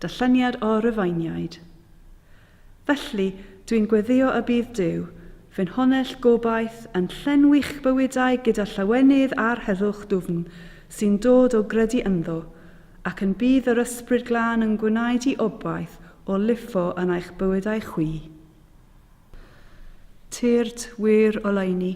Darlleniad o Rufeiniaid. Felly, dwi'n gweddïo y bydd Duw, fy Nhonell gobaith, yn llenwi'ch bywydau gyda llawenydd a'r heddwch dwfn sy'n dod o gredu ynddo, ac yn bydd yr Ysbryd Glân yn gwneud i obaith o lifo yn eich bywydau chwi. Tyrd wir oleuni,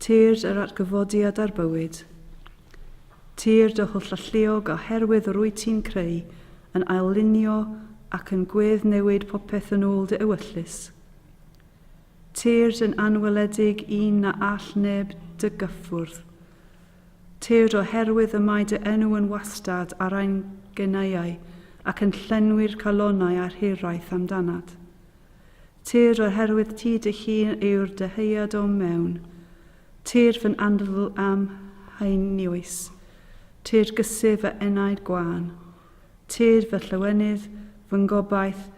Tyrd yr atgyfodiad ar bywyd. Tyrd y holl alluog a herwydd yr wyt ti'n creu, yn ail-lunio ac yn gwedd-newid popeth yn ôl dy ewyllys. Tyrd yn anweledig un na all neb dy gyffwrdd. Tyrd o herwydd y mae dy enw yn wastad ar ein genaiau ac yn llenwi'r calonau a'r hiraeth amdanat. Tir oherwydd ti dy hun yw'r dyhead o'm mewn. Tir fy nandl a'm haenioes. Tir gysi fy enaid gwan. Tir fy llawenydd, fy ngobaith,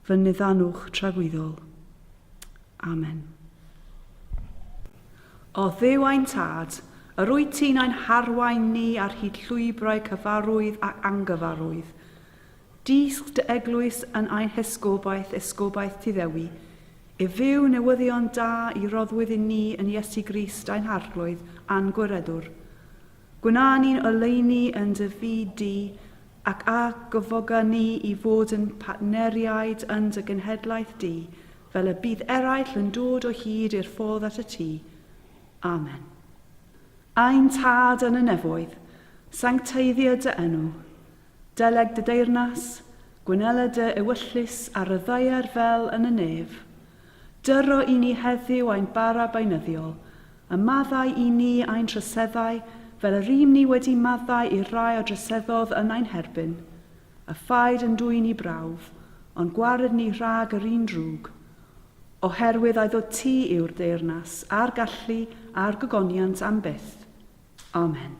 fy niddanwch tragwyddol. Amen. O Dduw ein Tad, yr wyt ti'n ein harwain ni ar hyd llwybrau cyfarwydd ac angyfarwydd. Dysg dy eglwys yn ein hesgobaeth, esgobaeth Tŷ Ddewi, i fyw newyddion da i roddwyd i ni yn Iesu Grist ein Harglwydd a'n Gwiredwr. Gwna ni'n oleuni yn dy fyd di, ac a gyfoga ni i fod yn partneriaid yn dy genhedlaeth di, fel y bydd eraill yn dod o hyd i'r ffordd at y Tŷ. Amen. Ein Tad yn y Nefoedd, sancteiddio dy enw. Deleg dy deyrnas, gwynela dy ewyllys a ryddaier fel yn y nef. Dyro i ni heddyw ein bara beunyddiol, a maddau i ni ein troseddau fel y rym ni wedi maddau i'r rai a droseddodd yn ein herbyn. A phaid yn dwyn i brawf, ond gwared ni rhag yr un drwg. Oherwydd ai ddod ti yw'r deyrnas, a'r gallu, a'r gogoniant am byth. Amen.